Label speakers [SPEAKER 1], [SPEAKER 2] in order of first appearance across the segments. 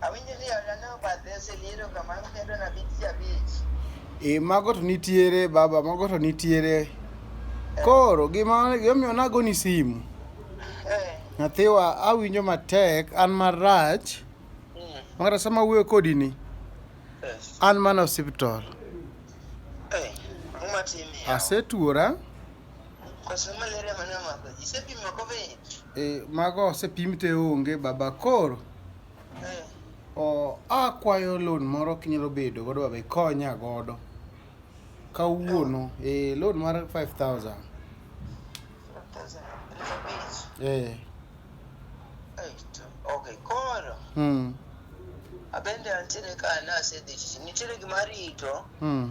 [SPEAKER 1] Awinjo ni olane obadhe oseliero kamano kendo na bit ji abich. E, mago to nitiere
[SPEAKER 2] baba, mago to nitiere. Koro gima gimomiyo nagoni simu, Eh, nyathiwa awinjo matek, an marach, mm, makata sama awuoyo kodi ni, yes. an mana osiptal. Eh, ang'o matimi? Asetuora,
[SPEAKER 1] E, mago osepim
[SPEAKER 2] te onge baba koro eh. o akwayo loan moro kinyalo bedo godo baba ikonya godo kawuono e loan mar 5000 eh okay
[SPEAKER 1] koro mm abende antiere ka nasedhi nitiere gima rito mm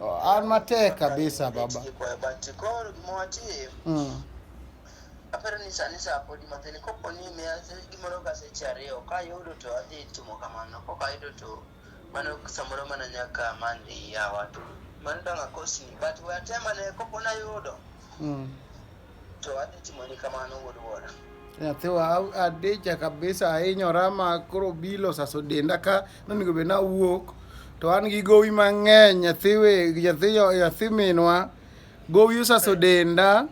[SPEAKER 2] Oh, an matek kabisa baba.
[SPEAKER 1] Mm. Aparo ni sani saa podi matin kopo ni miya gimoro ka seche ariyo ka yudo to adhi timo kamano koka yudo to mano samoro mana nyaka mandi yawa to mano dong akosni but we atema ne kopo nayudo mm. To adhi timoni kamano wuod wuora. Nyathiwa
[SPEAKER 2] adicha kabisa ahinyora ma koro bilo saso denda ka nonego bed nawuok to an gi gowi mang'eny nyathiwe nyathi minwa gowi osaso denda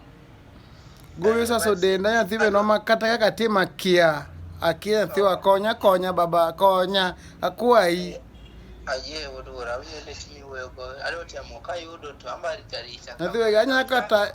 [SPEAKER 2] gowi osaso denda nyathi minwa ma kata kaka tim akia akia nyathiwa konya konya baba konya akwayi ayie
[SPEAKER 1] wuod wuora awinjo lit miwuoyogo adwa temo kayudo to ambarita rita nyathiwega anyakata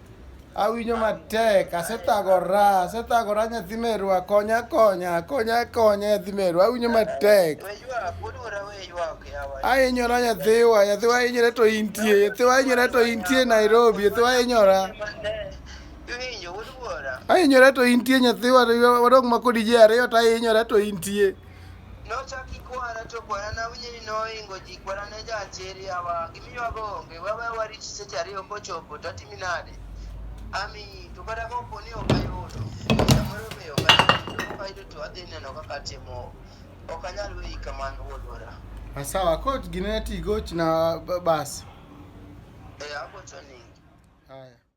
[SPEAKER 2] Awinyo matek, asethagora, asethagora nyathi merwa, konya konya, konya konya nyathi merwa, awinyo matek. Ahinyora nyathiwa, nyathiwa ahinyore to intie, nyathiwa ahinyore to intie Nairobi, nyathiwa ahinyora. Ahinyore to intie nyathiwa, wadong' ma kodi ji ariyo to ahinyora to intie. Nochaki
[SPEAKER 1] kwara to kwara nawinje ni noingo ji kwara ne jaacheri awa gimiywago onge wawe warit seche ariyo kochopo to atimi nade ami to kata kopo ni ok ayudo samoro be ok ayudo ok ayudo to adhi neno kaka atimo ok anyal weyi kamano wuodwara Sawa, ko
[SPEAKER 2] gine tigoch na ba- basi. e
[SPEAKER 1] agocho ni
[SPEAKER 2] Haya.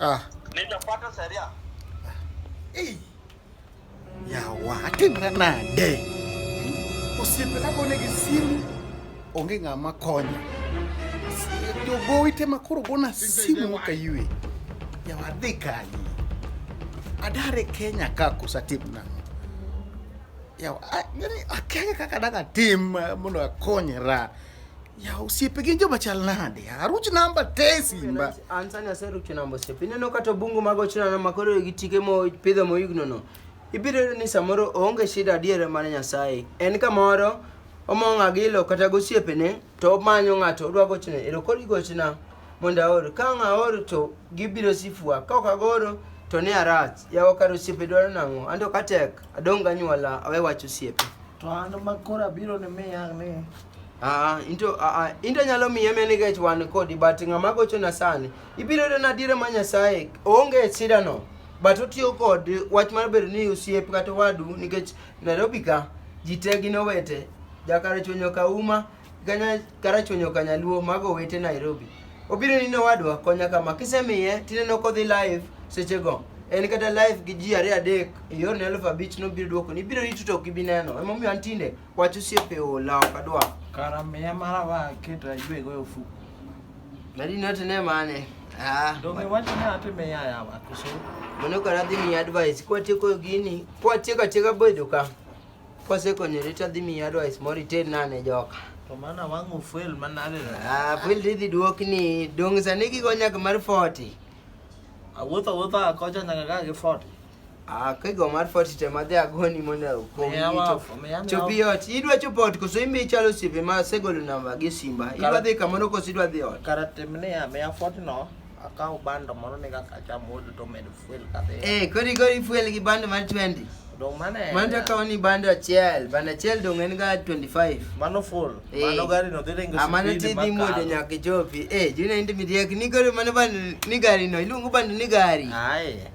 [SPEAKER 1] Ah. Nitapata sheria. Eh.
[SPEAKER 2] Ya wati na nade. Usipe kako ne gisimu. Onge ngama konya. Jogo ite makoro gona simu ka yue. Ya wadhi kanyi. Adare Kenya ka kusatim na. Ya, yani akenge kaka daga tim mondo akonyra. Ya osiepe gin joma chal nade? Aruch namba te simba. Ansani aseruch
[SPEAKER 3] namba osiepe. Ineno kata bungu mag ochunano ma koro gi tike mo pidho moyugno no. Ibiro
[SPEAKER 4] yudo ni samoro onge shida adiera mar Nyasaye. En kamoro omong'a gi ilo kata gosiepene to omanyo ng'ato odwa gochne. Ero koro igochna mondo aor. Ka ang' aor to gibiro sifua. Ka ok agoro to ne arach. Yawa kar osiepe dwaro nang'o? Anto katek adong' ganyuola awe wach osiepe. To an ma
[SPEAKER 5] koro abiro ni miya ni Ah, ah, into
[SPEAKER 4] ah, ah, into nyalo miye meni kech wan kodi but ng'ama gochona sani ibiro yudo nadiera ma nyasaye onge e sidano but otiyo kod wach mar bedo ni osiep kata wadu nikech nairobi ka ji te gin owete jakarachuonyo ka uma ganya- karachuonyo ka nyaluo mago owete nairobi obiro ni nowadwa konya kama kisemiye tineno kodhi live sechego en kata live gi ji ariyo adek e yorni elfu abich nobiro duoko ni ibiro rito to ok ibi neno emomiyo an tinde Wach osiepe ola ok adwa. Kara miya mara
[SPEAKER 5] wa keta ywe goyo fu. Nadi
[SPEAKER 4] note ne mane? Ah. Donge wach
[SPEAKER 5] ne atime ya ya wa kuso. Mano kara dhi
[SPEAKER 4] mi advice kwa tieko gini. Kwa tieko tieka bedo ka. Kwa seko ni rita dhi mi advice mori ten nane joka. To mana wangu
[SPEAKER 5] fuel manade. Ah, fuel dhi
[SPEAKER 4] duok ni dong sani gigo nyak mar 40. Awuotho
[SPEAKER 5] awuotho akocha nyaka ga gi 40. Ah, kigo
[SPEAKER 4] mar fort te madhi agoni mondo okonyi chopi ot idwa chopo ot koso imbe ichalo osiepe ma asegolo namba gi simba idwa dhi kamoro koso idwa dhi ot kara timne ya miya
[SPEAKER 5] fort no akaw bando moro ni kaka achamo odo to medo fuel kadhi eh kori kori fuel gi
[SPEAKER 4] bando mar 20 dong mane mano
[SPEAKER 5] to akaw ni bando
[SPEAKER 4] achiel bando achiel dong en ga 25 mano full
[SPEAKER 5] eh. mano gari no dhi ringo amano ah, ti dhi modo
[SPEAKER 4] nyaka chopi eh juna indi miriek ni gari mano bando ni gari no iluongo bando ni gari ai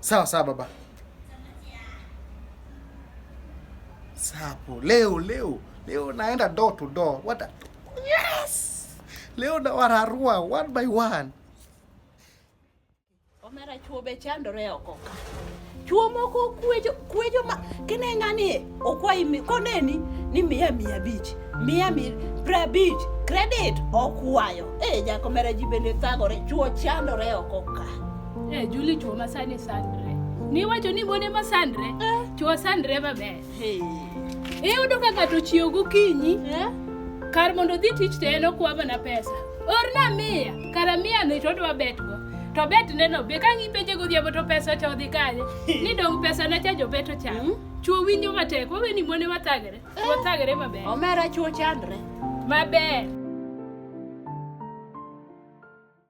[SPEAKER 2] Sawa sawa baba. Sapo leo leo leo naenda door to door. What a... yes! Leo na wararua one by one.
[SPEAKER 6] Omera chuo be chandore oko ka. Chuo moko kuejo kuejo ma kine ngani okwayi mi- koneni ni miya mia abich miya mi- pra abich credit okwayo e jakomera ji bende thagore chuo chandore oko ka Eh, Juli
[SPEAKER 7] chuo masani sandre. Niwacho ni mone masandre, chuo sandre maber. Hey. Iyudo ka ng'ato chiew gokinyi, Eh? kar mondo odhi tich to en okwa mana pesa. Orna miya, kara miya ni to odwa betgo. To bet neno be ka ng'ipenje godhiambo to pesa cha odhi kanye? Ni dong pesa na cha jobeto cha. Chuo winjo matek, wawe ni mone
[SPEAKER 6] wathagre.
[SPEAKER 7] Eh. Wathagre maber.
[SPEAKER 6] Omera
[SPEAKER 7] chuo chandre.
[SPEAKER 6] Maber.